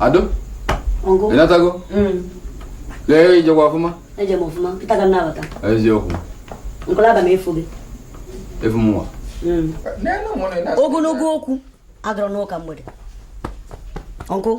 Ado? Uncle? Ị natago? Mm. Leo i jekwa ọfụma? Eje m ọfụma. Kịta ka m na-abata. Eje oku. Nkola ba me efu gị. Efu mwa. Mm. Ogologo okwu adịrọ n'ụka mgbede. Uncle?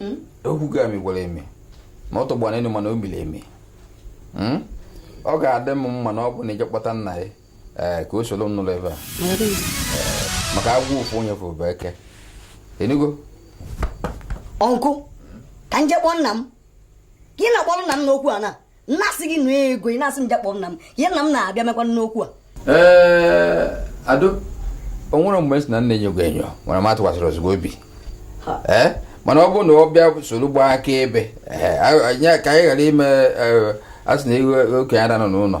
hmm? okwu ga mi gwara eme na ọ tọgbọ n'elu mana o miri emi hmm? ọ ga-adị m mma na ọ bụ na i je kpọta nna gị eh, ka o soro m nụrụ ife a eh, maka agwọ ofu onye fụrụ bụ eke ị nụgo uncle ka m je kpọọ nna m ka ị na-akpọrọ nna m n'okwu a na m na-asị gị nụ ego ị na-asị m je kpọọ nna m ihe nna m na-abịa emekwa n'okwu a ee eh, ado o nwere mgbe sị na m na-enyo gị enyo nwere m atụkwasịrị ezigbo obi ee eh, mana ọ bụrụ na ọ bịa soro gbaa akaebe eh, ka anyị ghara ime a sị na okenye ada anọ n'ụlọ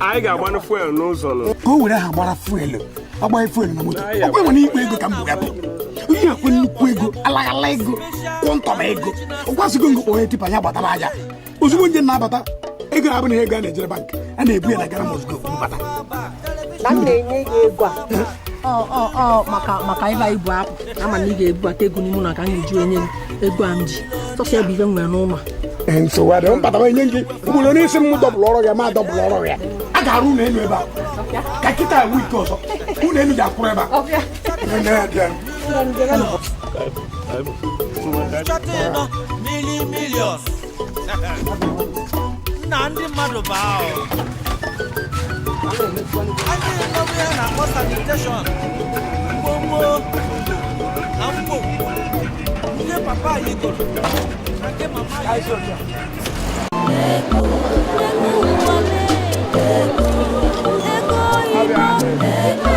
anyị ga-agbanụ fuel n'ụzọ nụ ka o were ha gbara fuel agbaghị fuel na moto ọkwa e nwere ikpe ego ka m bụga bụ ihe ekwe nnukwu ego alaghala ego quantum ego ọkwasịgo ngo kpọrọ tipa ya gbatara aja ozugbo m je na-abata ego a bụ na ego a na-ejere bank a na-ebu ya na Ghana Must Go bata na m na-enye gị ego a maka maka ịba ibu akpụ a ma na ị ga-ebubata ego n'ime ụlọ ka m ga-eji enye ego a m ji sọsọ ya bụ ife m nwere n'ụlọ nsogbu adịghị m kpata enye gị mkpụrụ onye isi m dọbụrụ ọrụ ya ma dọbụrụ ọrụ ya a ga-arụ ụlọ elu ebe a ka kịta enwe ike ọzọ ụlọ elu ga-akwụrụ ebe a nna ndị mmadụ bụ ahụ anyị nọbụ ya na-akpọ sanitation mgbomgbo na mgbo ndị papa anyị goro na nke mama anyị goro Ego, ego, ego, ego.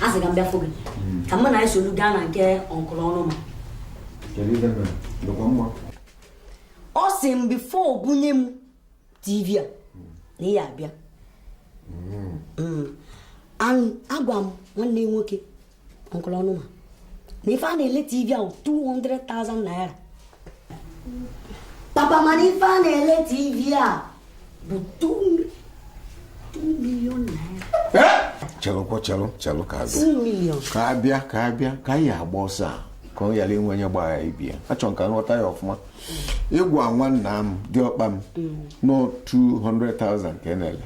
a sị ka m bịa fụ gị ka mụ na ị solu gaa na nke uncle Ọnụma ọ sị m before bunye m tv a na ị ya-abịa mm. Mm. agwa m nwanne nwoke uncle Ọnụma na ife a na-ele tv ahụ 200,000 naira papa mana ife a na-ele tv a bụ 2 million naira chelụkwa chelụ chelụ ka abịa 2 million ka abịa ka abịa ka anyị agba ọsọ a ka ọ ghara inwe onye gbara ibe ya achọrọ m ka m ghọta ya ọfụma ị gwa nwanna m diọkpa m na ọ 200,000 ka a na-ele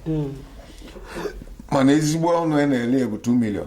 mana ezigbo ọnụ a na-ele ya bụ 2 million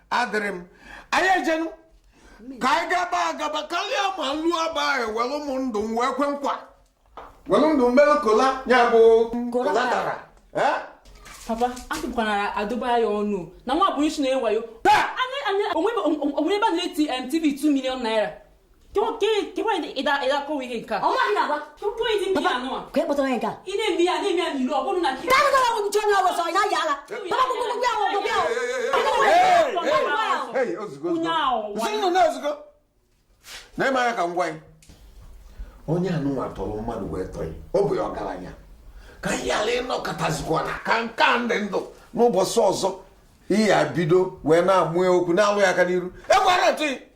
adịrị m anyị ejenu ka anyị gaba agaba karịa ma lụọ aba ahụ were m ndụ m wee kwe nkwa were ndụ m mere kola ya bụ collateral eh? papa atụpụkwana adụba ya ọnụ na nwa bụ isi na-ewayo onwe ebe a na-eti tv 2 million naira onye a nụnwa tọrọ mmadụ wee tọọ ya ọ bụ ya ọgaranya ka anyị ghara ịnọkatazikwa na ka nke a ndị ndụ n'ụbọchị ọzọ ị ya-ebido wee na-amụ okwu na-alụ ya aka n'iru ekwara ntụghị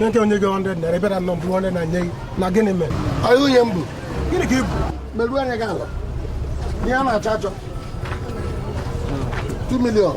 nke onye gị 100 naira bịara nọ mbụ onye na-enye gị na gịnị mere onye nwunye m bụ gịnị ka ị bụ meruo anya gị ala ihe a na-achọ achọ 2 million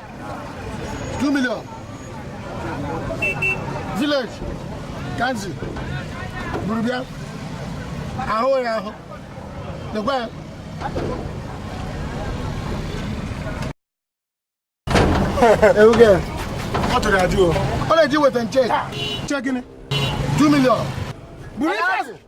2 million village ka m si buru bịa ahụ ya ahụ nekwa ya ewuge ọ chọrọ ya jụọ ọ na-eji weta nche che gịnị 2 million buru ife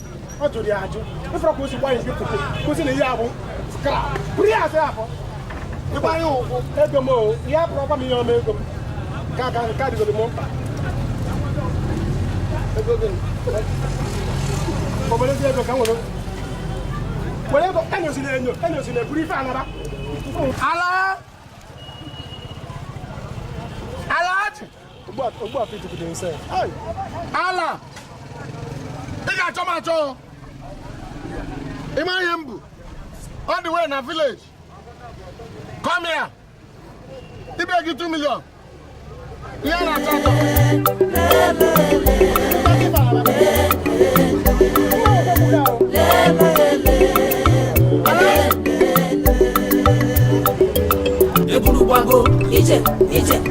ọ jụrụ ya ajụ ị fụrụ ka o si gbanye nke foto kwụsị na ihe a bụ skra buru ya asị afọ ịgbanye ụkwụ ego m o ihe a pụrụ ọkwa m ihe ọma ego m ka ka nke adịgoro m mkpa ego gị obere ezi ego ka m nwere were ego enyozila enyo enyozila eburu ife a naba ala ala ị ga-achọ m achọ ị ma ihe m bu all the way na village come here ibe gị 2 million ihe a na-achọ achọ eburu gbago ije ije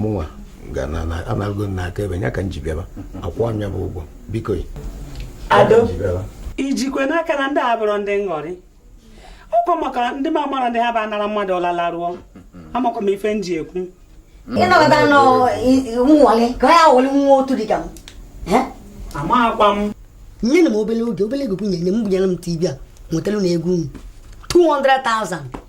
mụnwa ga na na anago na aka ebe ya ka m ji bịaba akwụọ m ya bụ ụgwọ biko ya Ado. ji bịaba i jikwe n'aka na ndị a abụrọ ndị nghọrị ọkwa maka ndị ma mara ndị ha bụ anara mmadụ ọlala rụọ amakwa m ife m ji ekwu ịnọkọta nọ nwale ka ọ ya wọli nwa otu dị ka m Eh? amaghịkwa m nyenụ m obele oge obele ego kwunye nye m bunyenụ m tv a wetaranụ ego unu 200,000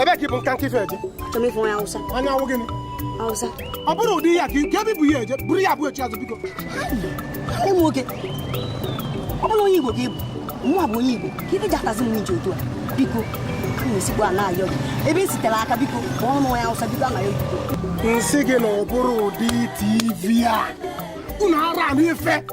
ebe ka ị bụ nka nka ife eje chọrọ ịfụ onye awụsa anya awụ gịnị awụsa ọ bụrụ ụdị ya ka ike ebe bụ ya eje bụrụ ya bụ echi azụ biko ịmụ nwoke ọ bụrụ onye igbo ka ị bụ nwa bụ onye igbo ka ife ji atazi m iji otu a biko a na-esikwa a na-ayọ gị ebe esitere aka biko ma ọ bụ onye awụsa biko a na-ayọ gị m sị gị na ọ bụrụ ụdị tv a unu ara anụ ife